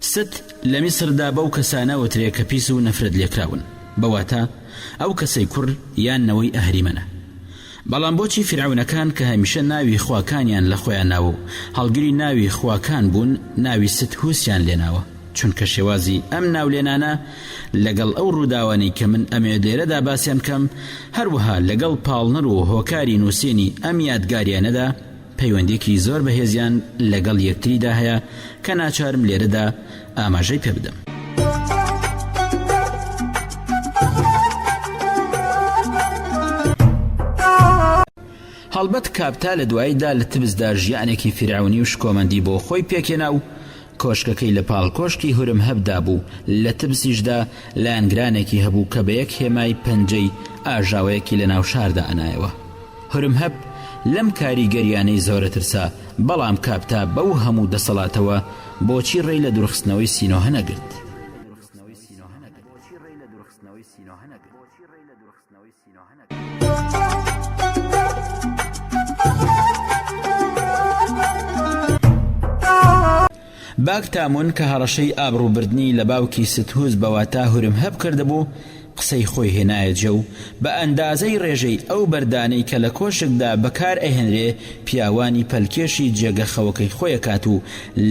ست، لە میسردا بەو کەسانە ئەوترێ کە پیس و نەفرەت لێکراون، بە واتا ئەو کەسەی کوڕ یان نەوەی ئەهریمەنە. بەڵام بۆچی فیرعەونەکان کە هەمیشە ناوی خواکانیان لە خۆیان ناوە و هەڵگری ناوی خواکان بوون ناوی ست هوسیان لێناوە؟ چونکە شێوازی ئەم ناولێنانە لەگەڵ ئەو ڕووداوانەی کە من ئەمەوێت لێرەدا باسیان بکەم، هەروەها لەگەڵ پاڵنەر و هۆکاری نووسینی ئەم یادگاریانەدا، پەیوەندیەکی زۆر بەهێزیان لەگەڵ یەکتریدا هەیە کە ناچارم لێرەدا ئاماژەی پێ بدەم. هەڵبەت کاپتا لە دواییدا لە تبسدا ژیانێکی فیرعەونی و شکۆمەندی بۆ خۆی پێکهێنا و، کۆشکەکەی لە پاڵ کۆشکی هورمهەب دابوو، لە تبسیشدا لایەنگرانێکی هەبوو کە بە یەک هێمای پەنجەی ئاژاوەیەکی لە ناو شاردا ئەنایەوە. هورمهەب لەم کاریگەرییانەی زۆرە ترسا، بەڵام کاپتا بەو هەموو دەسەڵاتەوە بۆچی ڕێی لە دوورخستنەوەی سینۆهە نەگرت؟ باک تامون کە هەڕەشەی ئابڕووبردنی لە باوکی ستهوز بە واتا هورمهب کردبوو قسەی خۆی هێنایە جێ و بە ئەندازەی ڕێژەی ئەو بەردانەی کە لە کۆشکدا بەکار ئەهێنرێ پیاوانی پەلکێشی جێگە خەوەکەی خۆیەکات و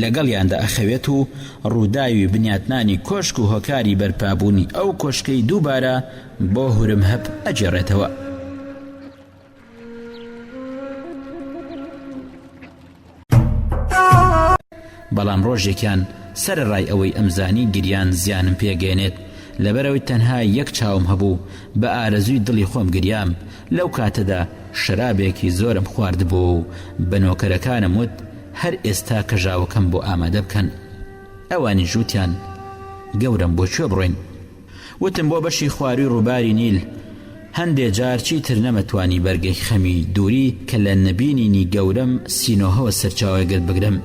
لەگەڵیاندا ئەخەوێت و ڕووداوی بنیاتنانی کۆشک و هۆکاری بەرپابوونی ئەو کۆشکەی دووبارە بۆ هورمهب ئەگێڕێتەوە. بەڵام ڕۆژێکیان سەرەڕای ئەوەی ئەمزانی گریان زیانم پێگەێنێت لەبەرەوەی تەنها یەک چاوم هەبوو بە ئارەزوی دڵی خۆم گریام لەو کاتەدا شەرابێکی زۆرم خواردبوو و بە نۆکەرەکانم وت هەر ئێستا کەژاوەکەم بۆ ئامادە بکەن ئەوانی ژووتیان گەورم بۆ کوێ بڕۆین وتم بۆ بەشی خواروی ڕوباری نیل هەندێ جار چیتر نەمەتوانی بەرگەی خەمی دوری کە لە نەبینینی گەورەم سینۆهەوە سەرچاوەگرت بگرم.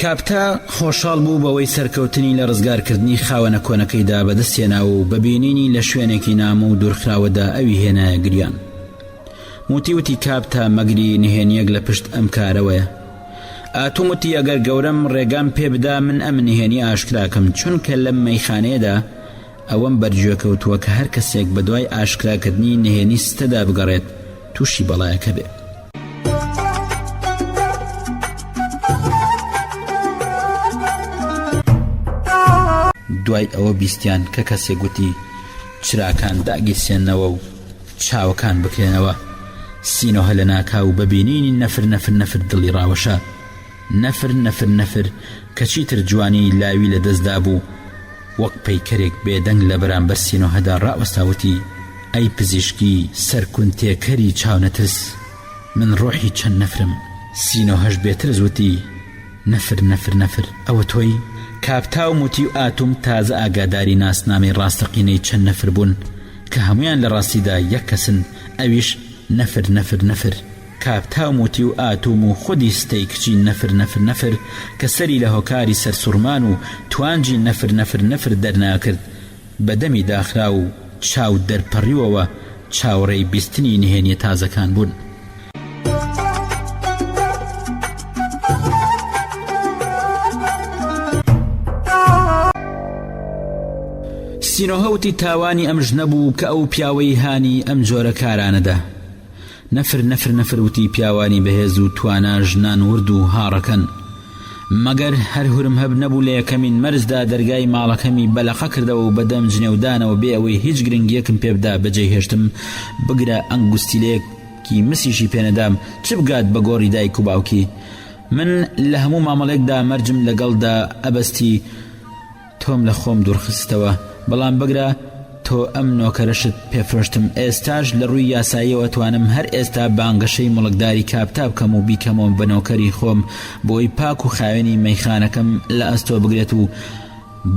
کاپتا خۆشحاڵ بوو بەوەی سەرکەوتنی لە ڕزگارکردنی خاوەنە کۆنەکەیدا بەدەستێناوە و بەبینینی لە شوێنێکی نامە و دوورخراوەدا ئەوی هێنایە گریان موتی وتی کاپتا مەگری نهێنیەک لە پشت ئەم کارەوەیە ئاتوم وتی ئەگەر گەورەم ڕێگام پێ بدا من ئەم نهێنی ئاشکراکەم چونکە لەم مەیخانەیەدا ئەوەم بەرگوێ کەوتووە کە هەر کەسێک بەدوای ئاشکراکردنی نهێنی ستەدا بگەڕێت تووشی بەڵایەکە بێ. دوای ئەوە بیستیان کە کەسێک وتی چراکان داگیرسێنەوە و چاوەکان بکرێنەوە سینۆهە لە ناکاو بە بینینی نەفر نەفر نەفر دڵی ڕاوەشە نەفر نەفر نەفر کە چیتر جوانی لاوی لە دەستدا بوو وەک پەیکەرێک بێدەنگ لە بەرامبەر سینۆهەدا ڕاوەستاوتی ئەی پزیشکی سەرکون تێکەری چاونەترس من ڕۆحی چەند نەفرم سینۆهەش بێترس وتی نەفر نەفر نەفر ئەوە تۆی کاپتاو موتی و ئاتوم تازە ئاگاداری ناسنامەی ڕاستەقینەی چەند نەفر بوون کە هەموویان لە ڕاستیدا یەک کەسن ئەویش نەفر نەفر نەفر کاک تاوم و تیو ئاتوم و خودی ستەی کچی نەفر نەفر نەفر کە سەری لە هۆکاری سەرسوڕمان و توانجی نەفر نەفر نەفر دەرناکرد بە دەمی داخراو و چاو دەرپەڕیوەوە چاوەڕێی بیستنی نهێنیە تازەکان بوون سینۆهە وتی تاوانی ئەم ژنە بوو کە ئەو پیاوەی هانی ئەم جۆرە کارانەدا نەفر نەفر نەفر وتی پیاوانی بەهێز و توانا ژنان ورد و هاڕەکەن مەگەر هەر هورم هەب نەبوو لە یەکەمین مەرجدا دەرگای ماڵەکەمی بەلەقە کردەوە و بەدەم جنێودانەوە بێ ئەوەی هیچ گرنگیەکم پێبدا بەجێ هێشتم بگرە ئەنگوستیلێک کی مسیشی پێ نەدام چ بگات بە گۆڕی دایک و باوکی من لە هەموو مامەڵێکدا مەرجم لەگەڵدا ئەبەستی تۆم لە خۆم دوورخستەوە بەڵام بگرە تۆ ئەم نۆکەرەشت پێفرۆشتم ئێستاش لە ڕووی یاساییەوە توانم هەر ئێستا بانگەشەی مڵکداری کاپتا بکەم و بیکەمەوە بە نۆکەری خۆم بۆی پاک و خاوێنی مەیخانەکەم لە ئەستۆ بگرێت و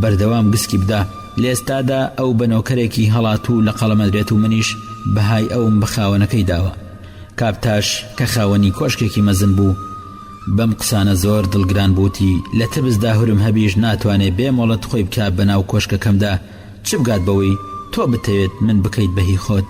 بەردەوام گسکی بدە، لەئێستادا ئەو بە نۆکەرێکی هەڵاتوو لەقەڵەمەدرێت و منیش بەهای ئەوم بە خاوەنەکەی داوە. کاپتاش کە خاوەنی کۆشکێکی مەزن بوو بەم قسانە زۆر دڵگران بوو وتی، لە تبسدا هورم هەبیش ناتوانێ بێ مۆڵەت خۆی بکا بەناو کۆشکەکەمدا چ بگات بەوەی تۆ بتەوێت من بکەیت بە هی خۆت؟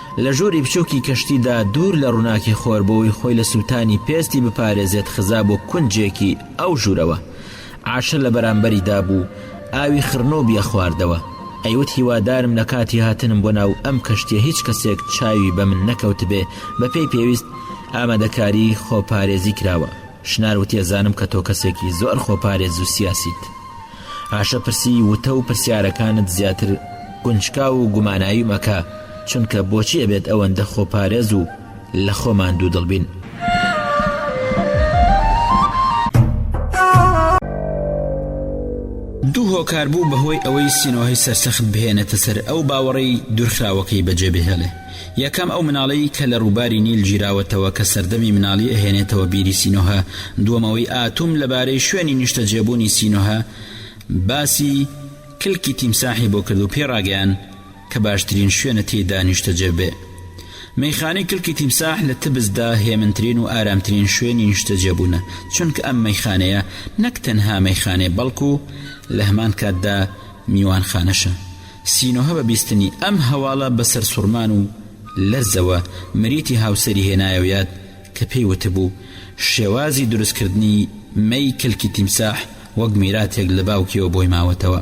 لە ژووری بچووکی کەشتیدا دوور لە ڕووناکی خۆر بۆوەی خۆی لە سووتانی پێستی بپارێزێت خزا بۆ کونجێکی ئەو ژوورەوە. عاشە لە بەرامبەری دابوو، ئاوی خڕنووبی ئەخواردەوە. ئەیوت هیوادارم لە کاتی هاتنم بۆ ناو ئەم کەشتیە هیچ کەسێک چاوی بە من نەکەوتبێ، بە پێی پێویست ئامادەکاری خۆپارێزی کراوە. شنار وتی ئەزانم کە تۆ کەسێکی زۆر خۆپارێز و سیاسیت. هاشە پرسی وتە و پرسیارەکانت زیاتر گونچکاو و گوماناویم ئەکا چونکە بۆچی ئەبێت ئەوەندە خۆپارێز و لە خۆمان دوودڵ بین؟ دوو هۆکار بوو بەهۆی ئەوەی سینۆهی سەرسەخت بهێنێتە سەر ئەو باوەڕەی دوورخراوەکەی بەجێبهێڵێ. یەکەم ئەو مناڵەی کە لە ڕووباری نیل گیراوەتەوە کە سەردەمی مناڵی ئەهێنێتەوە بیری سینۆهە دووەم ئەوەی ئاتوم لەبارەی شوێنی نیشتەجێبوونی سینۆهە باسی کلکی تیمساحی بۆ کرد و پێی ڕاگەیان کە باشترین شوێنە تێیدا نیشتەجێببێ مەیخانەی کلکی تیمساح لە تبزدا هێمنترین و ئارامترین شوێنی نیشتەجێبوونە چونکە ئەم مەیخانەیە نەک تەنها مەیخانەیە بەڵکو لەهەمان کاتدا میوانخانەشە سینۆهە بە بیستنی ئەم هەواڵە بە سەرسوڕمان و لەرزەوە مریتی هاوسەری هێنایەوە یاد کە پێی وتبوو شێوازی دروستکردنی مەی کلکی تیمساح وەک میراتێک لە باوکیەوە بۆی ماوەتەوە.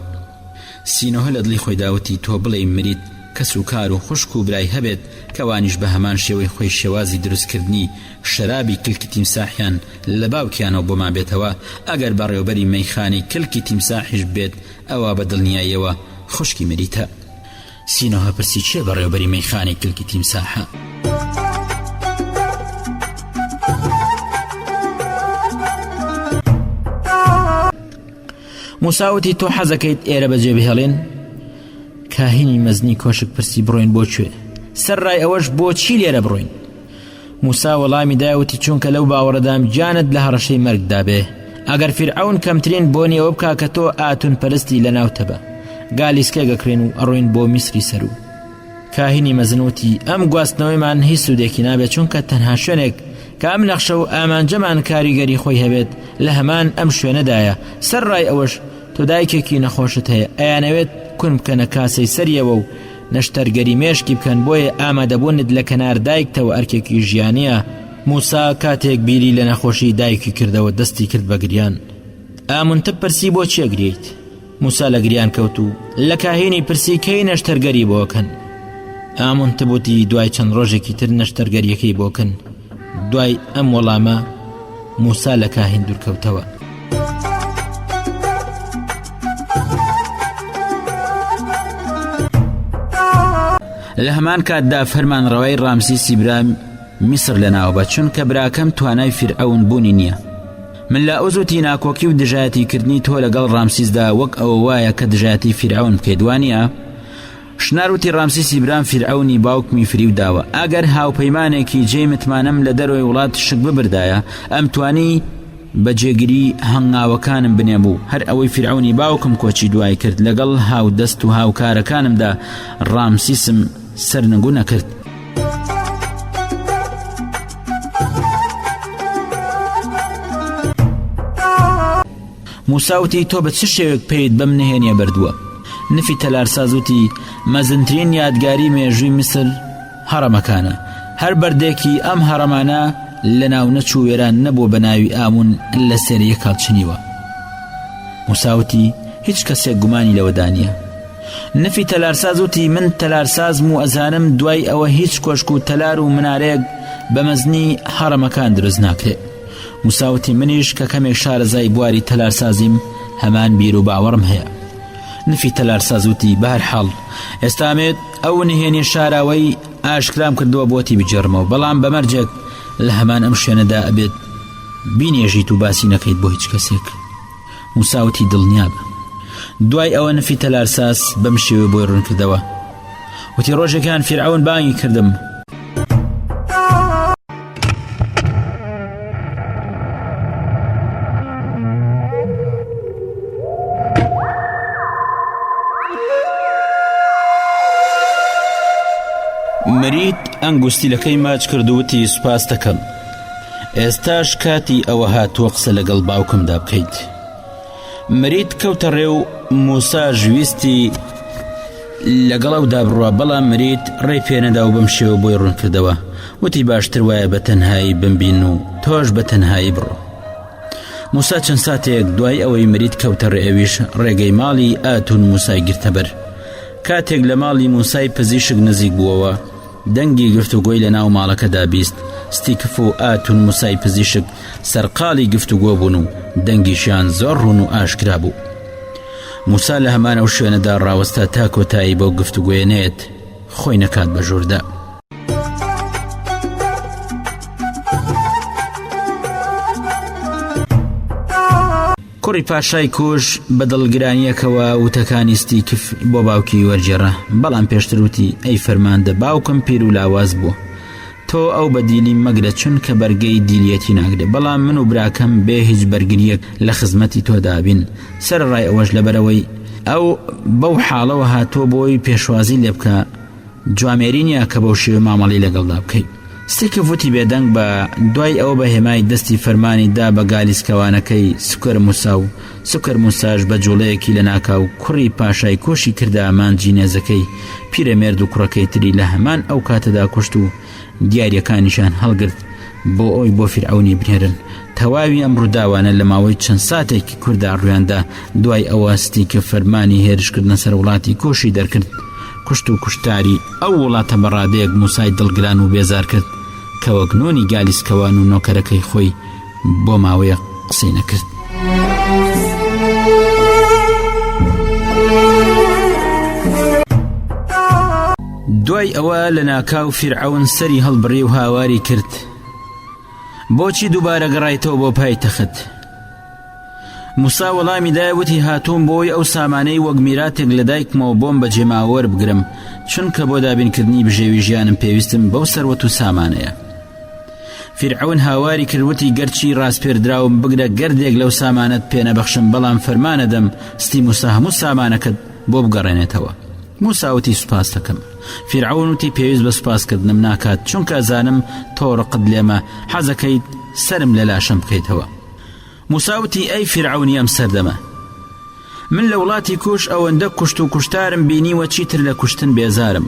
سینۆهە لە دڵی خۆیدا وتی تۆ بڵێی مریت کەس و کار و خوشک و برای هەبێت کە وانیش بە هەمان شێوەی خۆی شێوازی دروستکردنی شەرابی کلکی تیمساحیان لە باوکیانەوە بۆمان بێتەوە ئەگەر بەڕێوبەری مەیخانەی کلکی تیمساحیش بێت ئەوا بە دڵنیاییەوە خوشکی مریتە. سینۆهە پرسی چیە بەڕێوبەری مەیخانەی کلکی تیمساحە؟ موساوتی تۆ حەزەکەیت ئێرە بەجێ بهێڵێن کاهینی مەزنی کۆشک پرسی بڕۆین بۆ کوێ سەر ڕای ئەوەش بۆچی لێرە بڕۆین موسا وەڵامی دایە وتی چونکە لەو باوەڕەدام گیانت لە هەڕەشەی مەرگدا بێ ئەگەر فیرعون کەمترین بۆنی ئەوە بکا کە تۆ ئاتون پەرستی لە ناو تەبە گالیسکە گەکرێن و ئەڕوین بۆ میسری سەرو کاهینی مەزنوتی ئەم گواستنەوەیمان هیچ سوودێکی نابێت چونکە تەنها شوێنێک کە ئەم نەخشە و ئامانجەمان کاریگەری خۆی هەبێت لە هەمان ئەم شوێنەدایە سەر ڕای ئەوەش تۆ دایکێکی نەخۆشت هەیە ئەیانەوێت کون بکەنە کاسەی سەریەوە و نەشتەرگەری مێشکی بکەن بۆیە ئامادەبوونت لە کەنار دایکتەوە ئەرکێکی ژیانە موسا کاتێک بیری لە نەخۆشی دایکی کردەوە دەستی کرد بە گریان ئامونتە پرسی بۆ چێگریت موسا لە گریان کەوت و لە کاهینی پرسی کەی نەشتەرگەری بۆکەن ئامونتبووتی دوای چەند ڕۆژێکی تر نەشتەرگەریەکەی بۆکەن دوای ئەم وەڵامە موسا لە کاهین دوورکەوتەوە. لە هەمان کاتدا فەرمان ڕەوای ڕامسی سیبرام میسر لەناوبە چونکە براکەم توانای فیرعون بوونی نییە من لە ئۆزوتی ناکۆکی و دژایەتی کردنی تۆ لەگەڵ ڕامسیزدا وەک ئەوە وایە کە دژایەتی فیرعون بکەیت وانە شنار وتی ڕامسیسی برام فیرعەونی باوکمی فریو داوە ئەگەر هاوپەیمانێکی جێی متمانەم لە دەرەوەی وڵات شک ببردایە ئەم توانی بە جێگری هەنگاوەکانم بنێ بوو هەر ئەوەی فیرعەونی باوکم کۆچی دوای کرد لەگەڵ هاو دەست و هاوکارەکانمدا ڕامسیسم سەرنگو نەکرد موسا وتی، تۆ بە چ شێوەیەک پێیت بەم نهێنییە بردووە؟ نفی تەلارساز وتی، مەزنترین یادگاری مێژووی میسر هەڕەمەکانە، هەر بەردێکی ئەم هەڕەمانە لەناونەچوو وێران نەبووە بە ناوی ئامون لەسەر یەک هەڵچنیوە. موسا وتی، هیچ کەسێک گومانی لەوەدا نییە. نفی تەلارساز وتی، من تەلارسازم و ئەزانم دوای ئەوە هیچ کۆشک و تەلار و منارەیەک بە مەزنی هەڕەمەکان دروست ناکرێت. مساوتی منیش کە کەمێک شارەزای بواری تەلارسازیم هەمان بیر و باوەڕم هەیە نفی تەلارساز وتی بەهر حاڵ ئێستامێت ئەو نهێنی شاراوەی ئاشکرام کردووە بۆتی بجێڕمەوە بەڵام بەمەرجێک لە هەمان ئەم شوێنەدا ئەبێت بینێژیت و باسی نەکەیت بۆ هیچ کەسێک موسا وتی دڵنیابە دوای ئەوە نفی تەلارساس بەم شێوێ بۆی ڕوونکردەوە وتی ڕۆژێکیان فیرعون بانگی کردم مریت ئەنگوستیلەکەی ماچ کردووتی سوپاس دەکەم ئێستاش کاتی ئەوە هاتووە قسە لەگەڵ باوکمدا بکەیت مریت کەوتە ڕێ و موساش ویستی لەگەڵ ئەو دابڕوە بەڵام مریت ڕێ پێنەدا و بەم شێوە بۆی ڕوونکردەوە وتی باشتر وایە بە تەنهایی بمبین و تۆش بە تەنهایی بڕۆ موسا چەند ساتێک دوای ئەوەی مریت کەوتە ڕێویش ڕێگەی ماڵی ئاتون موسای گرتەبەر کاتێک لە ماڵی موسای پزیشک نزیک بووەوە دەنگی گفتوگۆی لە ناو ماڵەکەدا بیست، ستیکف و ئاتون موسای پزیشک سەرقاڵی گفتوگۆ بوون و دەنگیشیان زۆر ڕوون و ئاشکرا بوو. موسا لە هەمانەو شوێنەدا ڕاوەستا تا کۆتایی بەو گفتوگۆیە نەیەت، خۆی نەکات بە ژووردا. کوڕی پاشای کوش بە دڵگرانییەکەوە وتەکانی ستیکف بۆ باوکی وەرگێڕا، بەڵام پێشتر وتی، ئەی فەرماندە باوکم پیر و لاواز بووە. تۆ ئەو بە دیلی مەگرە چونکە بەرگەی دیلیەتی ناگرێ، بەڵام من و براکەم بێ هیچ بەرگرییەک لە خزمەتی تۆدا بین، سەرەڕای ئەوەش لەبەرئەوەی ئەو بەو حاڵەوە هاتووە بۆی پێشوازی لێ بکا، جوامێری نییە کە بەو شێوە مامەڵی لەگەڵدا بکەیت ستێکە وتی بێدەنگ بە دوای ئەوە بە هێمای دەستی فەرمانی دا بە گالیسکەوانەکەی سکەر موسا و سکەر موساش بە جوڵەیەکی لە ناکاو کوڕی پاشای کۆشی کردا مانجی نێزەکەی پیرەمێرد و کوڕەکەی تری لە هەمان ئەو کاتەدا کوشت و دیارەکانیشان هەڵگرت بۆ ئەوی بۆ فرعونی بنێرن تەواوی ئەم ڕووداوانە لە ماوەی چەند ساتێکی کوردا ڕویاندا دوای ئەوە ستی کە فەرمانی هێرشکردنە سەر وڵاتی کۆشی دەرکرد کوشت و کوشتاری ئەو وڵاتە بەڕادەیەک موسای دڵگران و بێزار کرد کە وەگنۆنی گالیسکەوان و نۆکەرەکەی خۆی بۆ ماوەیە قسەی نەکرد. دوای ئەوە لە ناکاو فیرعون سەری هەڵبڕی و هاواری کرد بۆچی دووبارە گەڕایتەوە بۆ پای تەخت موسا وەڵامی دایوتی هاتووم بۆی ئەو سامانەی وەک میراتێک لە دایکمەوە بۆم بە جێماوەەر بگرم چونکە بۆ دابینکردنی بژێوی ژیانم پێویستم بەو سەروەت و سامانەیە فیرعەون هاواری کرد وتی گەرچی ڕاسپێردراوم بگرە گەردێک لەو سامانەت پێنەبەخشم بەڵام فەرمانەدەم ستی موسا هەموو سامانەکەت بۆ بگەڕێنێتەوە موساوتی سوپاس دەکەم فیرعەون وتی پێویست بە سوپاسکردنم ناکات چونکە زانم تۆڕقت لێمە حەزەکەیت سرم لە لاشەم بکەیتەوە موسا وتی ئەی فیرعەونی ئەم سەردەمە من لە وڵاتی کووش ئەوەندە کوشت و کوشتارم بینیوە چیتر لە کوشتن بێزارم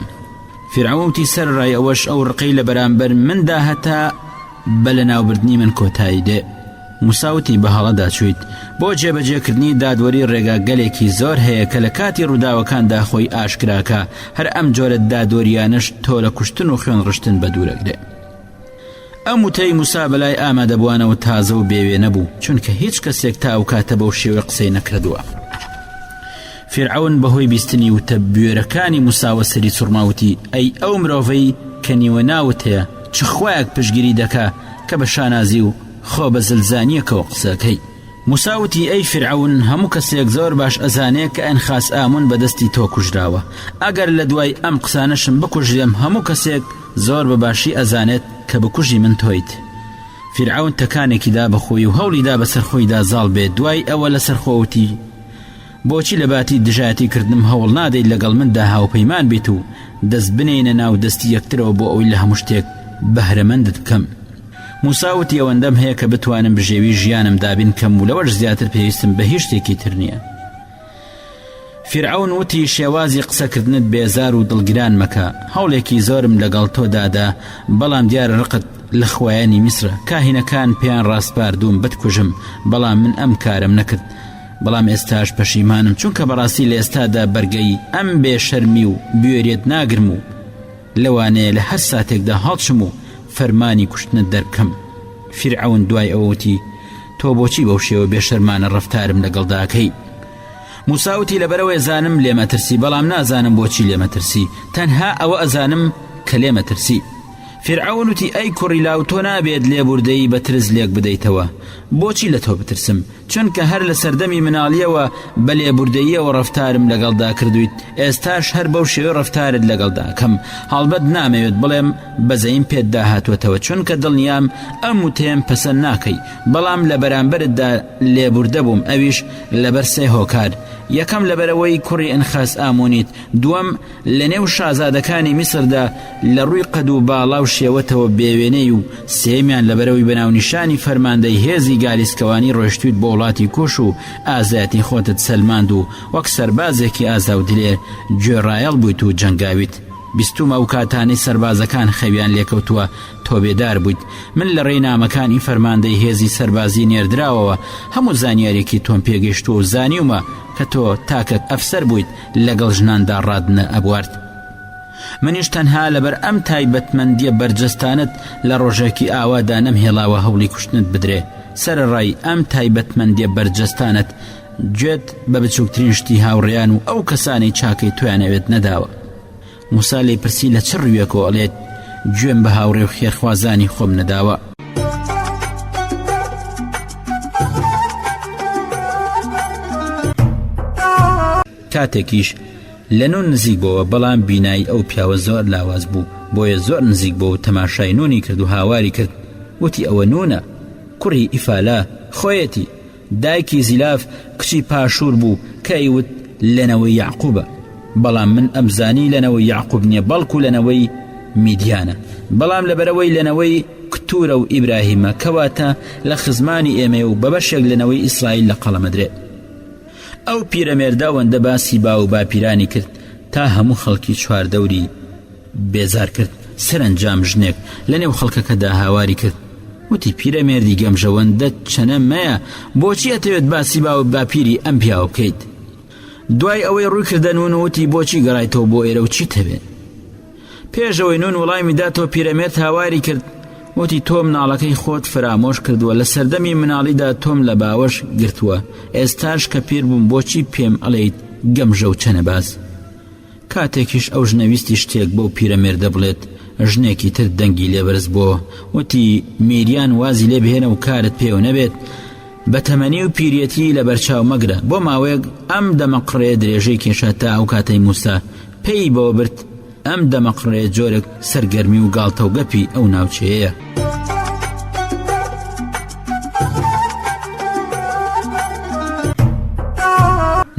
فیرعەون وتی سەرڕای ئەوەش ئەو ڕقەی لە بەرامبەر مندا هەتا بە لە ناوبردنی من کۆتایی دێ موساوتی بە هەڵەدا چویت بۆ جێبەجێکردنی دادوەری ڕێگا گەلێکی زۆر هەیە کە لە کاتی ڕووداوەکاندا خۆی ئاشکراکە هەر ئەم جۆرە دادوەریانەش تۆ لە کوشتن و خوێن ڕشتن بە دوورەگرێ ئەم وتەی موسا بەلای ئامادەبوانەوە تازە و بێ وێنە بوو چونکە هیچ کەسێک تا ئەو کاتە بەو شێوە قسەی نەکردووە فرعون بەهۆی بیستنی وتە بوێرەکانی موساوە سەری سوڕماوتی ئەی ئەو مرۆڤەی کە نیوە ناوت هەیە چ خویەک پشگیری دەکا کە بە شانازی و خۆ بە زلزانیەکەەوە قسەکەی مساوتی ئەی فرعون هەموو کەسێک زۆر باش ئەزانێ کە ئەن خاس ئامون بەدەستی تۆ کوژراوە ئەگەر لە دوای ئەم قسانەشم بکوژێم هەموو کەسێک زۆر بە باشی ئەزانێت کە بکوژی من تۆیت. فیرعەون تەکانێکی دا بە خۆی و هەوڵی دا بەسەر خۆیدا زاڵ بێت دوای ئەوە لەسەر خۆ وتی، بۆچی لە باتی دژایەتی کردنم هەوڵ نادەیت لەگەڵ مندا هاوپەیمان بیت و دەست بنێینە ناو دەستی یەکترەوە بۆ ئەوەی لە هەموو شتێک بەهرەمەندت بکەم؟ موسا وتی، ئەوەندەم هەیە کە بتوانم بژێوی ژیانم دابین کەم و لەوەش زیاتر پێویستم بە هیچ شتێکی تر نییە. فیرعەون وتی شێوازی قسەکردنت بێزار و دڵگران مەکە هەوڵێکی زۆرم لەگەڵ تۆ دادا بەڵام دیارە ڕقت لە خوایانی میسرە کاهینەکان پێیان ڕاسپاردووم بتکوژم بەڵام من ئەم کارەم نەکرد بەڵام ئێستاش پەشیمانم چونکە بەڕاستی لە ئێستادا بەرگەی ئەم بێ شەرمی و بوێریت ناگرم و لەوانەیە لە هەر ساتێکدا هەڵچم و فەرمانی کوشتنت دەربکەم فیرعەون دوای ئەوە وتی تۆ بۆچی بەو شێوە بێشەرمانە ڕفتارم لەگەڵداکەی موساوتی لەبەرەوەی زانم لێمەترسی بەڵام نازانم بۆچی لێمەترسی تەنها ئەوە ئەزانم کە لێمەترسی فیرعەون وتی ئەی کوڕی لاو تۆ نابێت لێبوردەیی بە ترس لێک بدەیتەوە بۆچی لە تۆ بترسم چونکە هەر لە سەردەمی مناڵیەوە بە لێبوردەییەوە ڕەفتارم لەگەڵدا کردوویت، ئێستاش هەر بەو شێوەی ڕەفتارت لەگەڵدا ئەکەم، هەڵبەت نامەوێت بڵێم بەزەییم پێت داهاتووەتەوە چونکە دڵنیام ئەم وتەیەم پەسەند ناکەی، بەڵام لە بەرامبەرتدا لێبوردە بووم ئەویش لەبەر سێ هۆکار، یەکەم لەبەرئەوەی کوڕی ئنخاس ئامونیت، دووەم، لە نێو شازادەکانی میسردا لە ڕووی قەد و باڵا و شێوەتەوە بێ وێنەی و سێیەمیان لەبەرئەوەی بە ناونیشانی فەرماندەی هێزی گالیسکەوانی ڕۆیشتوویت بۆ وڵاتی کۆش و ئازایەتی خۆتت سەلماند و وەک سەربازێکی ئازا و دلێر گوێڕایەڵ بوویت و جەنگاویت بیستووم ئەو کاتانەی سەربازەکان خەویان لێکەوتووە تۆ بێدار بوویت من لە ڕێی نامەکانی فەرماندەی هێزی سەربازی نێردراوەوە هەموو زانیاریەکی تۆم پێگەیشتووە و زانیومە کە تۆ تاکەک ئەفسەر بوویت لەگەڵ ژناندا ڕات نە ئەبوارد منیش تەنها لەبەر ئەم تایبەتمەندیە بەرجەستانت لە ڕۆژێکی ئاوادا نەم هێڵاوە هەوڵی کوشتنت بدرێ سەرڕای ئەم تایبەتمەندیە بەرجەستانت گوێت بە بچووکترین شتی هاوڕێیان و ئەو کەسانی چاکەی توانەوێت نەداوە موسا لێی پرسی لە چ ڕویەکەوە ئەڵێت گوێم بە هاوڕێ و خێرخوازانی خۆم نەداوە کاتێکیش لەنون نزیک بۆەوە بەڵام بینایی ئەو پیاوە زۆر لاواز بوو بۆیە زۆر نزیک بۆ و تەماشای نونی کرد و هاواری کرد وتی ئەوە نونە کوڕی ئیفالا خۆیەتی دایکی زیلاف کچی پاشور بوو کە ئەیوت لە نەوەی یەعقوبە بەڵام من ئەمزانی لە نەوەی یەعقوب نیە بەڵکو لە نەوەی میدیانە بەڵام لەبەرئەوەی لە نەوەی کتورە و ئیبراهیمە کەواتە لە خزمانی ئێمەیە و بە بەشێک لە نەوەی ئیسرائیل لە قەڵەمەدرێت ئەو پیرەمێردە ئەوەندە باسی باو و باپیرانی کرد تا هەموو خەڵکی چواردەوری بێزار کرد سەرەنجام ژنێک لە نێو خەڵکەکەدا هاواری کرد وتی پیرەمێردی گەمژەوەندە چەنە مەیە بۆچی ئەتەوێت باسی باو باپیری ئەم پیاوە بکەیت دوای ئەوەی ڕووی کردەنون وتی بۆچی گەڕایتەوە بۆ ئێرە و چیت هەوێت پێشەوەی نون وڵامی داتەوە پیرەمێرد هاواری کرد وتی تۆ مناڵەکەی خۆت فرامۆش کردووە لە سەردەمی مناڵیدا تۆم لە باوەش گرتووە ئێستاش کە پیر بووم بۆچی پێم ئەڵێیت گەمژە و چەنەباز کاتێکیش ئەو ژنە ویستی شتێک بەو پیرەمێردە بڵێت، ژنێکی تر دەنگی لێ بەرز بووەوە، وتی، میریان وازی لێ بهێنە و کارت پێوە نەبێت، بە تەمەنی و پیریەتیی لەبەرچاو مەگرە. بۆ ماوەیەک ئەم دەمەقڕێ درێژەی کێشا تا ئەو کاتەی مووسا پێی بەوە برد ئەم دەمەقڕێ جۆرێک، سەرگەرمی و گاڵتەوگەپی ئەو ناوچەیەیە.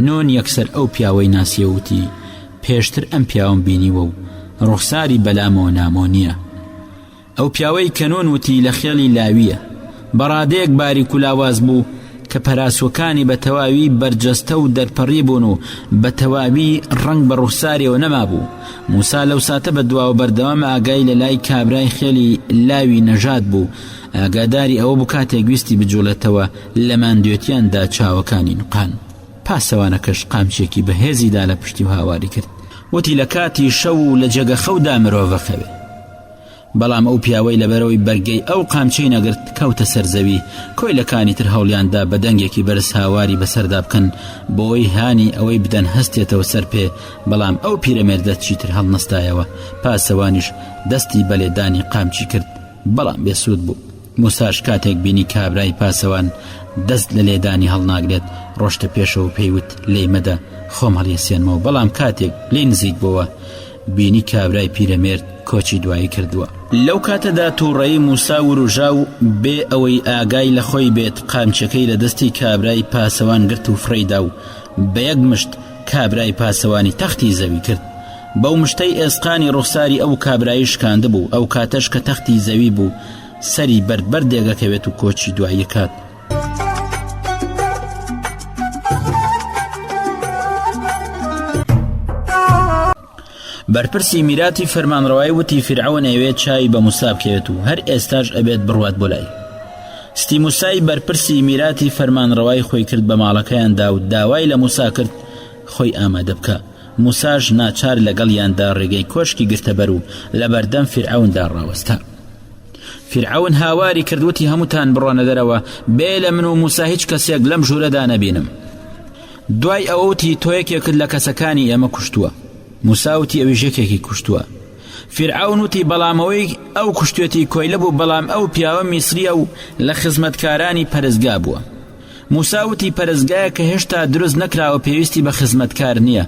نۆن یەکسەر ئەو پیاوەی ناسیە وتی پێشتر ئەم پیاوم بینیوە و ڕوخساری بەلامەوە نامۆ نییە ئەو پیاوەی کەنۆن وتی لە خێڵی لاویە بە ڕادەیەک باریک و لاواز بوو کە پەراسووەکانی بە تەواوی بەرجەستە و دەرپەڕی بوون و بە تەواوی ڕەنگ بە ڕوخسارێەوە نەمابوو. موسا لەو ساتە بە دواوە بەردەوام ئاگای لە لای کابرای خێلی لاوی نەژاد بوو ئاگاداری ئەوە بوو کاتێک ویستی بجوڵێتەوە لە ماندوێتیان دا چاوەکانی نوقاند. پاسەوانەکەش قامچێکی بە هێزی دا لە پشتی و هاواری کرد. وتی لە کاتی شەو و لە جێگە خەو دا مرۆڤ ئەخەوێ. بەڵام ئەو پیاوەی لەبەرئەوەی بەرگەی ئەو قامچەی نەگرت کەوتە سەر زەوی، کۆیلەکانی تر هەوڵیان دا بە دەنگێکی بەرز هاواری بەسەردا بکەن بۆی هانی ئەوەی بدەن هەستێتەوە سەر پێ، بەڵام ئەو پیرەمێردە چیتر هەڵنەستایەوە، پاسەوانیش دەستی بەلێدانی قامچی کرد، بەڵام بێسوود بوو، موساش کاتێک بینی کابرای پاسەوان دەست لە لێدانی هەڵناگرێت ڕۆشتە پێشەوە پێیوت لێی مەدە خۆم هەڵیسێنمەوە بەڵام کاتێک لێ نزیک بووە بینی کابرای پیرەمێرد کۆچی دوایی کردووە لەو کاتەدا تووڕەیی موسا وروژا و بێ ئەوەی ئاگای لە خۆی بێت قامچەکەی لە دەستی کابرای پاسەوان گرت و فڕێیدا و بە یەک مشت کابرای پاسەوانی تەختی زەوی کرد بەو مشتەی ئێسقانی ڕوخساری ئەو کابرایی شکاندبوو، ئەو کاتەش کە تەختی زەوی بوو، سەری بەرد بەرد دێگەکەوێت و کۆچی دواییەکات. بەرپرسی میراتی فەرمانڕەوای وتی فرعون ئەوێ چای بە موسا بکەوێت و هەر ئێستاش ئەبێت بڕوات بۆ لای ستی موسای بەرپرسی میراتی فەرمانڕەوای خۆی کرد بە ماڵەکەیاندا و داوای لە موسا کرد خۆی ئامادە بکە موساش ناچار لەگەڵیاندا ڕێگەی کۆشکی گرتەبەر و لەبەردەم فیرعەوندا ڕاوەستا فیرعەون هاواری کردوتی هەمووتان بڕۆنە دەرەوە بێ لە من و موسا هیچ کەسێک لەم ژوورەدا نەبینم دوای ئەوەوتی تۆ یەکێکت لە کەسەکانی ئێمە کوشتووە موساوتی ئەوی ژەکێکی کوشتووە فیرعون وتی بەڵامەوەی ئەو کوشتێتی کۆیلە بوو بەڵام ئەو پیاوە میسریە و لە خزمەتکارانی پەرستگا بووە موسا وتی پەرستگایەک کە هێشتا دروست نەکراوە پێویستی بە خزمەتکار نییە.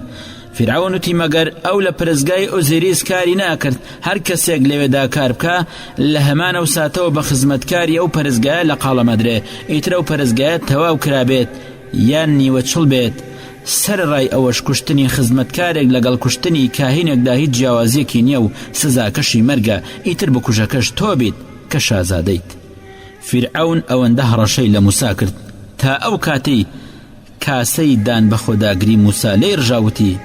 فیرعەون وتی مەگەر ئەو لە پەرستگای ئۆزیریس کاری ناکرد، هەر کەسێک لەوێدا کار بکا، لە هەمان ئەو ساتەوە بە خزمەتکاری ئەو پەرستگایە لەقاڵەم ئەدرێ، ئیتر ئەو پەرستگایە تەواو کرابێت یان نیوە چڵ بێت. سەرەڕای ئەوەش کوشتنی خزمەتکارێک لەگەڵ کوشتنی کاهینێکدا هیچ جیاوازییەکی نییە و سزاکەشی مەرگە، ئیتر بکوژەکەش تۆ بیت کە شازادەیت. فیرعەون ئەوەندە هەڕەشەی لە موسا کرد تا ئەو کاتەی کاسەی دان بە خۆداگری موسا لێی ڕژا وتی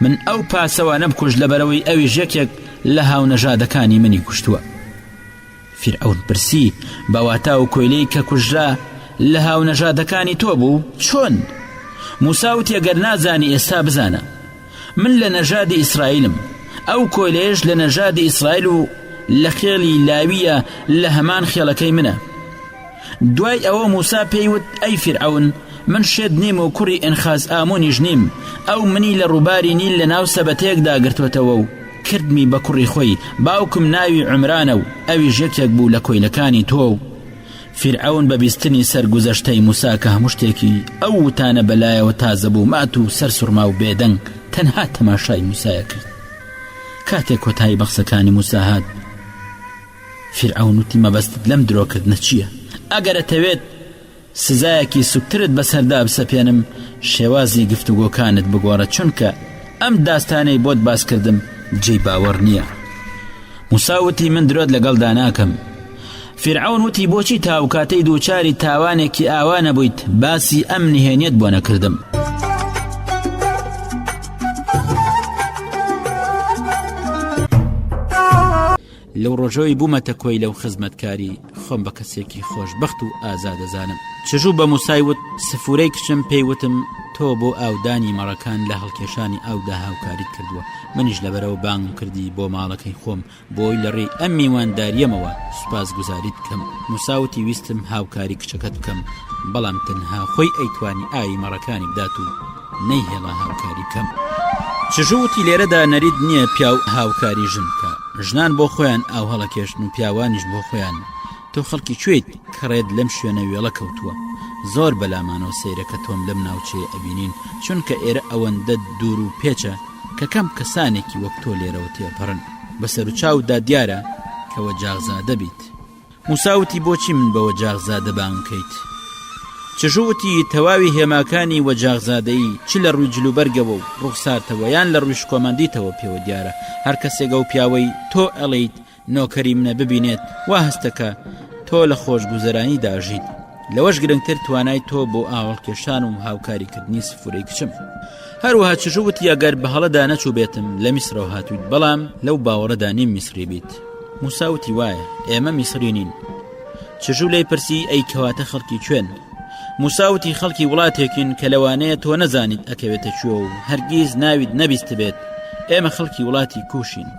من ئەو پاسەوانە بکوژ لەبەرەوەی ئەویش یەکێک لە هاونەژادەکانی منی کوشتووە فیرعەون پرسی بەواتا و کۆیلەی کە کوژرا لە هاونەژادەکانی تۆ بوو چۆن موساوتی گەر نازانی ئێستا بزانە من لە نەژادی ئیسرائیلم ئەو کۆیلەیەش لە نەژادی ئیسرائیل و لە خێڵی لاویە لە هەمان خێڵەکەی منە دوای ئەوە موسا پێیوت ئەی فرعون من شێت نیم و کوڕی ئەنخاز ئامونیش نیم ئەو منی لە ڕووباری نیل لە ناو سەبەتەیەک داگرتوتەوە و کردمی بە کوڕی خۆی باوکم ناوی عمرانە و ئەویش یەکێک بوو لە کۆیلەکانی تۆ و فیرعەون بە بیستنی سەر گوزەشتەی موسا کە هەموو شتێکی ئەو وتانە بە لایەوە تازە بوو مات و سەر سوڕما و بێدەنگ تەنها تەماشای موسایە کرد کاتێک کۆتایی بە قسەکانی موسا هات فیرعەون وتی مەبەستت لەم درۆکردنە چییە ئەگەرەتەوێت سزایەکی سوکترت بەسەردا بسەپێنم شێوازی گفتوگۆکانت بگۆڕە چونکە ئەم داستانەی بۆت باسکردم جێی باوەڕ نییە موساوتی من درۆت لەگەڵدا ناکەم فیرعەون وتی بۆچی تا ئەو کاتەی دووچاری تاوانێکی ئاوا نەبوویت باسی ئەم نهێنیەت بۆ نەکردم. لەو ڕۆژەوەی بوومەتە کۆی لەو خزمەتکاری خۆم بە کەسێکی خۆشببخت و ئازادەزانم چژوو بە موسایوت سفورەی کچم پێیوتم تۆ بۆ ئاودانی مەڕەکان لە هەڵکێشانی ئاودا هاوکاریت کردووە منیش لەبەرەوە بانگم کردی بۆ ماڵەکەی خۆم بۆی لە ڕێی ئەم میواندارییەمەوە سوپاسگوزاریت بکەم موسا وتی ویستم هاوکاری کچەکەت بکەم بەڵام تەنها خۆی ئەیتوانی ئاوی مەڕەکانی بدات و نەیهێڵا هاوکاری بکەم چژو وتی لێرەدا نەریت نییە پیاو هاوکاری ژن بکە ژنان بۆ خۆیان ئاو هەڵەکێشن و پیاوانیش بۆ خۆیان تۆ خەڵکی کوێیت کە ڕێت لەم شوێنە وێڵە کەوتووە زۆر بەلامانەوە سەیرە کە تۆم لەم ناوچەیە ئەبینین چونکە ئێرە ئەوەندە دوور و پێچە کە کەم کەسانێکی وەک تۆ لێرەوە تێپەڕن بە سەرچاودا دیارە کەوە جاغزادە بیت موساوتی بۆچی من بەوە جاغزادە بانکەیت چژوتی تەواوی هێماکانی وەجاغزادەیی چ لە ڕووی جلوبەرگەوە و ڕوخسارتەوەیان لە ڕووی شکۆمەندیتەوە پێوە دیارە هەر کەسێگە و پیاوەی تۆ ئەڵیت نۆکەری منە ببینێت وا هەستە کە تۆ لە خۆشگوزەرانی داژیت لەوەش گرنگتر توانای تۆ بۆ ئاوەڵ کێشان و هاوکاریکردنی سفرەی کچم هەروها چژوت یاگەر بەهڵەدا نەچوو بێتم لە میسرەوە هاتوویت بەڵام لەو باوەڕەدا نیم میسری بیت موساوتی وایە ئێمە میسری نین چژوو لی پرسی ئەی کەواتە خەڵکی کوێن موساوتی خەڵکی وڵاتێکین کە لەوانەیە تۆ نەزانیت ئەکەوێتە کوێ و هەرگیز ناویت نەبیست بێت ئێمە خەڵکی وڵاتی کوشین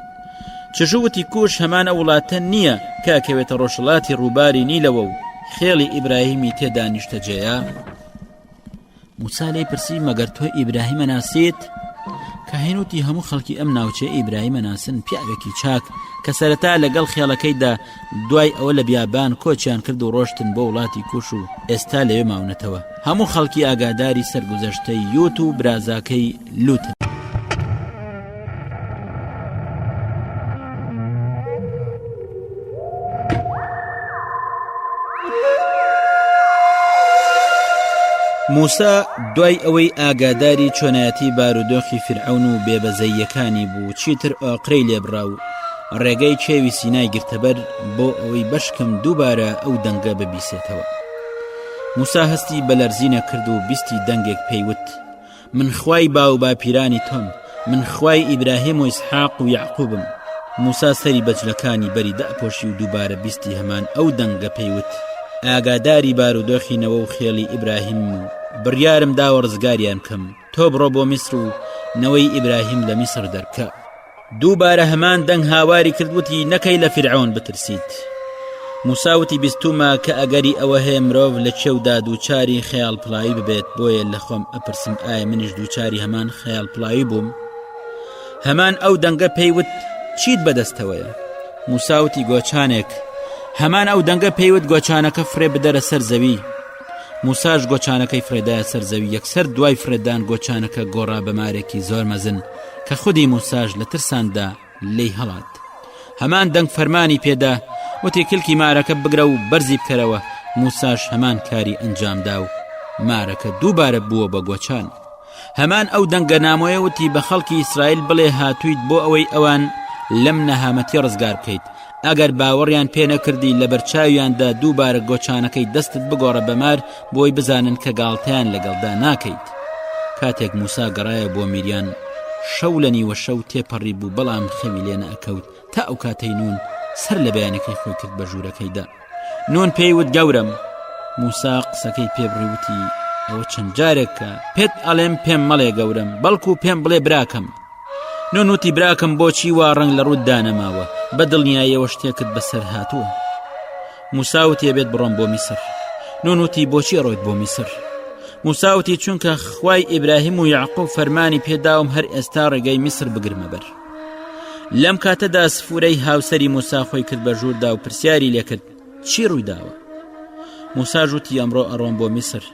چژووتی کوش هەمان ئەو وڵاتە نییە کە کەوێتە ڕۆژهڵاتی ڕووباری نیلەوە و خێڵی ئیبراهیمی تێدا نیشتەجێە موسا لێ پرسی مەگەر تۆ ئیبراهیمە ناسیت کە هێنوتی هەموو خەڵکی ئەم ناوچێ ئیبراهیمە ناسن پیاوێکی چاک کە سەرەتا لەگەڵ خێڵەکەیدا دوای ئەوە لە بیابان کۆچیان کرد و ڕۆشتن بۆ وڵاتی کوش و ئێستا لەوێ ماونەتەوە هەموو خەڵکی ئاگاداری سەرگوزەشتەی یوت و برازاکەی لوتن موسا دوای ئەوەی ئاگاداری چۆنایەتی بارودۆخی فرعون و بێبەزەییەکانی بوو چیتر ئۆقرەی لێبڕاو ڕێگای کێوی سینای گرتەبەر بۆ ئەوەی بەشکم دووبارە ئەو دەنگە ببیسێتەوە موسا هەستی بە لەرزینە کرد و بیستی دەنگێک پێیوت من خوای با و باپیرانی تۆم من خوای ئیبراهیم و ئیسحاق و یعقوبم موسا سەری بەجلەکانی بەری دەپۆشی و دووبارە بیستی هەمان ئەو دەنگە پێیوت ئاگاداری بارودۆخینەوە و خێڵی ئیبراهیم و بڕیارم داوە ڕزگاریان کەم تۆ بڕۆ بۆ میسر و نەوەی ئیبراهیم لە میسر دەرکە دووبارە هەمان دەنگ هاواری کردوتی نەکەی لە فرعون بترسیت موساوتی بیستومە کە ئەگەری ئەوە هەیە مرۆڤ لە چێودا دووچاری خەیاڵ پڵاوی ببێت بۆیە لە خۆم ئەپرسم ئایا منیش دووچاری هەمان خەیاڵ پڵاوی بووم هەمان ئەو دەنگە پێیوت چیت بەدەستەوەیە موساوتی گۆچانێک هەمان ئەو دەنگە پێیوت گۆچانەکە فرێ بدەرە سەر زەوی موساش گۆچانەکەی فرێدایە سەر زەوی یەکسەر دوای فرێدان گۆچانەکە گۆڕا بە مارێکی زۆر مەزن کە خودی موساش لە ترساندا لی هەڵات هەمان دەنگ فەرمانی پێدا وتی کلکی مارەکە بگرە و بەرزی بکەرەوە موساش هەمان کاری ئەنجامدا و مارەکە دووبارە بووە بە گۆچان هەمان ئەو دەنگە نامۆیە وتی بە خەڵکی ئیسرائیل بڵێ هاتوویت بۆ ئەوەی ئەوان لەم نەهامەتی ڕزگار بکەیت ئەگەر باوەڕیان پێ نەکردی لە بەرچاویاندا دووبارە گۆچانەکەی دەستت بگۆڕە بەمار بۆی بزانن کە گاڵتەیان لەگەڵدا ناکەیت کاتێک موسا گەڕایە بۆ میریان شەو لە نیوە شەو تێپەڕی بوو بەڵام خەوی لێ نەکەوت تا ئەو کاتەی نون سەر لە بەیانەکەی خۆی کرد بە ژوورەکەیدا نون پێی وت گەورەم موسا قسەکەی پێبڕی وتی ئەوە چەند جارێکە پێت ئەڵێم پێم مەڵێ گەورم بەڵکو و پێم بڵێ براکەم نۆنوتی براکەم بۆچی وا ڕنگ لە ڕووت دانەماوە بە دڵنیایەوە شتێکت بەسەر هاتووە موساوتێ بێت بڕۆم بۆ میسر نۆنوتی بۆچی ڕۆیت بۆ میسر موساوتی چونکە خوای ئیبراهیم و یعقوب فەرمانی پێداوم هەر ئێستا ڕێگەی میسر بگرمە بەر لەم کاتەدا سفورەی هاوسری موسا خۆی کرد بە ژووردا و پرسیاری لێکرد چی ڕوویداوە موسا ژووتی ئەمڕۆ ئەڕۆم بۆ میسر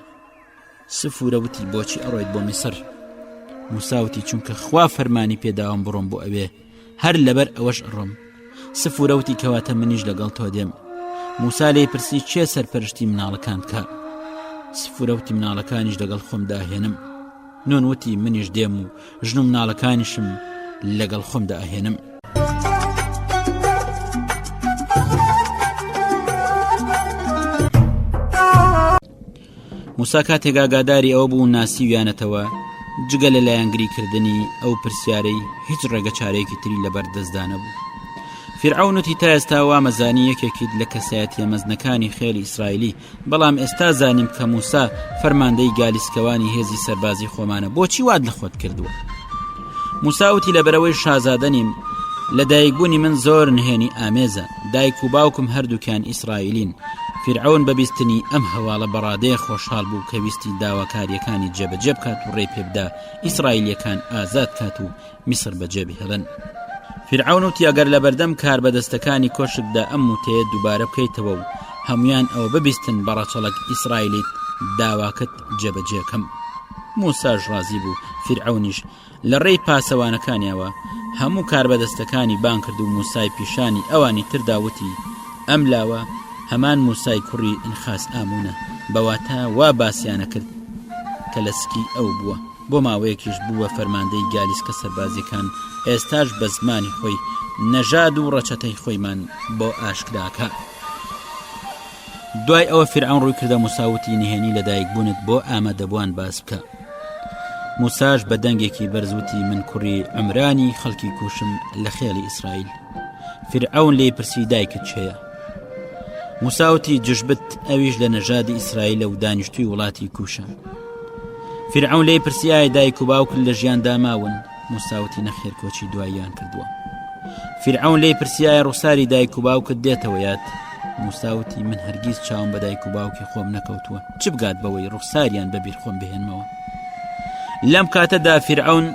سفورە وتی بۆچی ئەڕۆیت بۆ میسر موساوتی چونکە خوا فەرمانی پێداوام بڕۆم بۆ ئەوێ هەر لەبەر ئەوەش ئەڕۆم سفورەوتی کەواتە منیش لەگەڵ تۆ دێم موسا لی پرسی چێ سەرپەرشتی مناڵەکان بکە سفورەوتی مناڵەکانیش لەگەڵ خۆمدا هێنم نۆن وتی منیش دێم و ژن و مناڵەکانیشم لەگەڵ خۆمدا ئەهێنم. موسا کاتێک ئاگاداری ئەوە بوو ناسیویانەتەوە جگە لە لایەنگری کردنی ئەو پرسیارەی هیچ ڕێگە چارێکی تری لەبەر دەستدانە بوو فرعونەتی تا ئێستا وامەزانی یەکێکیت لە کەسایەتە مەزنەکانی خێلی ئیسرائیلی بەڵام ئێستا زانیم کە موسا فەرماندەی گالیسکەوانی هێزی سەربازی خۆمانە بۆچی واد لە خۆت کردووە موساوتی لەبەرەوەی شازادە نیم لە دایکبوونی من زۆر نهێنی ئامێزە دایک و باوکم هەردووکیان ئیسرائیلین فرعون بەبیستنی ئەم هەواڵە بەڕادەیە خۆشحاڵ بوو کە ویستی داواکاریەکانی جێبەجێ بکات و ڕێ پێبدا ئیسرائیلەکان ئازاد کات و میسر بەجێ بهێڵن. فرعون وتی ئەگەر لە بەردەم کاربەدەستەکانی کۆشکدا ئەم وتەیە دووبارە بکەیتەوە و هەمویان ئەوە ببیستن بە ڕەچەڵک ئیسرائیلیت داواکەت جێبەجێکەم موساش ڕازی بوو فرعونیش لە ڕێی پاسەوانەکانیەوە هەموو کاربەدەستەکانی بان کرد و موسای پیشانی ئەوانی ترداوتی ئەم لاوە هەمان موسای کوڕی ئینخاس ئامونە بەواتە وا باسییانە کرد کە لە سکی ئەو بووە بۆ ماوەیەکیش بوو بە فەرماندەی گالیسکە سەربازیەکان، ئێستاش بە زمانی خۆی نەژاد و ڕەچەتەی خۆیمان بۆ ئاشکراکە. دوای ئەوە فرعون ڕووی کردە موساوتی نهێنی لە دایک بوونت بۆ ئامادەبووان باس بکە موساش بە دەنگێکی بەرزوتی من کوڕی ئەمرانی خەڵکی کوشم لە خێڵی ئیسرائیل فرعون لی پرسی دایکت چێە موساوتی جشبت ئەویش لە نەژادی ئیسرائیلە و دانیشتوی وڵاتی کوشە فرعون لی پرسیایە دایک و باوکل لە ژیان داماون موساوتی نەخێر کۆچی دواییان کردووە فرعون لی پرسیایە ڕووساری دایک و باوکت دێتەوە یاد موساوتی من هەرگیز چاوم بە دایک و باوکی خۆم نەکەوتووە چ بگات بەوەی ڕوخساریان بەبیر خۆم بهێنمەوە لەم کاتەدا فرعون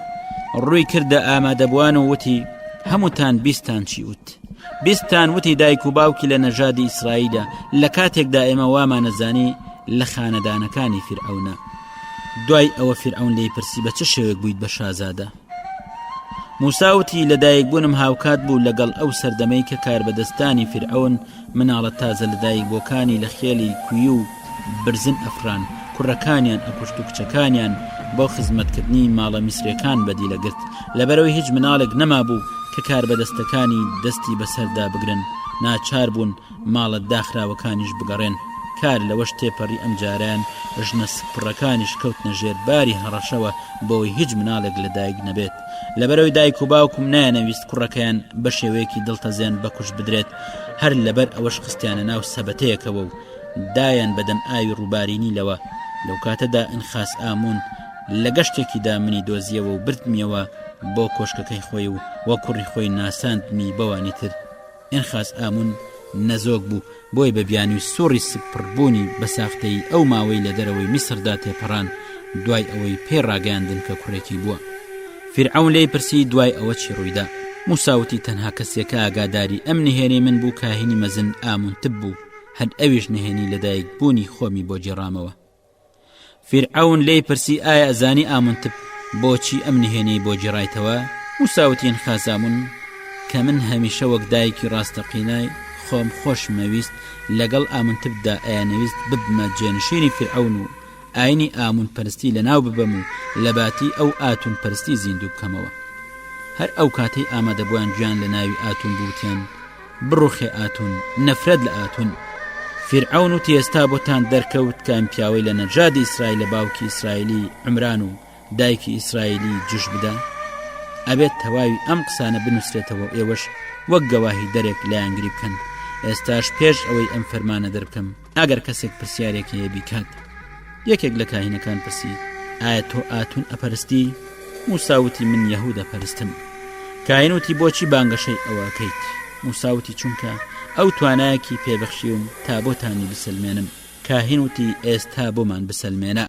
ڕووی کردە ئامادەبووان و وتی هەمووتان بیستان چی وت بیستتان وتی دایک و باوکی لە نەژادی ئیسرائیلە لە کاتێکدا ئێمە وامانەزانی لە خانەدانەکانی فیرعونە دوای ئەوە فیرعون لی پرسی بە چ شێوێک بوویت بە شازادە موساوتی لەدایک بوونم هاوکات بوو لەگەڵ ئەو سەردەمەی کە کاربەدەستانی فرعون مناڵە تازە لەدایک بۆکانی لە خێلی کوی و برزن ئەفران، کوڕەکانیان ئەکوشت و کچەکانیان بۆ خزمەتکردنی ماڵە میسرێکان بەدی لەگرت، لەبەرەوەی هیچ مناڵێک نەمابوو کە کاربەدەستەکانی دەستی بەسەردا بگرن، ناچار بوون ماڵە داخراوەکانیش بگەڕێن، کار لەوەش تێپەڕی ئەمجارەیان ژنە سکپڕەکانیش کەوتنە ژێر باری هەڕەشەوە بۆوەی هیچ مناڵێک لەدایک نەبێت، لەبەرەوەی دایک و باوکم نایانەویست کوڕەکەیان بەشێوەیەکی دڵتەزێن بەکوشت بدرێت، هەر لەبەر ئەوەش خستیانە ناو سەبەتەیەکەوە و دایان بە دەم ئاوی ڕووباری نیلەوە لەو کاتەدا ئەنخاس ئامون لە گەشتێکیدا منی دۆزیەوە و بردمیەوە بۆ کۆشکەکەی خۆی و وە کوڕی خۆی ناساندمی بەوانی تر ئەنخاس ئامون نەزۆک بوو بۆی بە بیانوی سوڕی سپڕبوونی بە ساختەی ئەو ماوەی لە دەرەوەی میسردا تێپەڕان دوای ئەوەی پێ ڕاگەیاندن کە کوڕێکی بووە فرعون لی پرسی دوای ئەوە چی ڕوویدا موساوتی تەنها کەسێکە ئاگاداری ئەم نهێنی من بوو کاهینی مەزن ئامونتب بوو هەر ئەویش نهێنی لەدایک بوونی خۆمی بۆ جێڕامەوە فیرعون لی پرسی ئایا ئەزانی ئامنتب بۆچی ئەم نهێنی بۆ جێڕایتەوە وساوتین خازامون کە من هەمیشە وەک دایکی ڕاستەقینای خۆم خۆشمەویست لەگەڵ ئامنتبدا ئەیانەویست ببمە جێنشینی فرعون و ئاینی ئامون پەرستی لە ناو ببەم و لە باتی ئەو ئاتون پەرستی زیندوو بکەمەوە هەر ئەو کاتەی ئامادەبووان گویان لە ناوی ئاتون بوتیان بڕوخێ ئاتون نەفرەت لە ئاتون فیرعەون و تێستا بۆتان دەرکەوت کام پیاوەی لە نەجادی ئیسرائیل لە باوکی ئیسرائیلی عمران و دایکی ئیسرائیلی جش بدا ئەبێت تەواوی ئەم قسانە بنووسێتەوە ئێوەش وەک گەواهی دەرێک لایەنگری بکەن ئێستاش پێش ئەوەی ئەم فەرمانە دەربکەم ئەگەر کەسێک پرسیارێک هەیە بیکات یەکێک لە کاهینەکان پرسی ئایا تۆ ئاتون ئەپەرستی موساوتی من یهودە پەرستم کاینوتی بۆچی بانگەشەی ئەوەکەیت موساوتی چونکە ئەو توانایەکی پێبەخشیوم تا بۆتانی بسەلمێنم کاهینوتی ئێستا بۆمان بسەلمێنە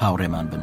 هاوڕێمان بن.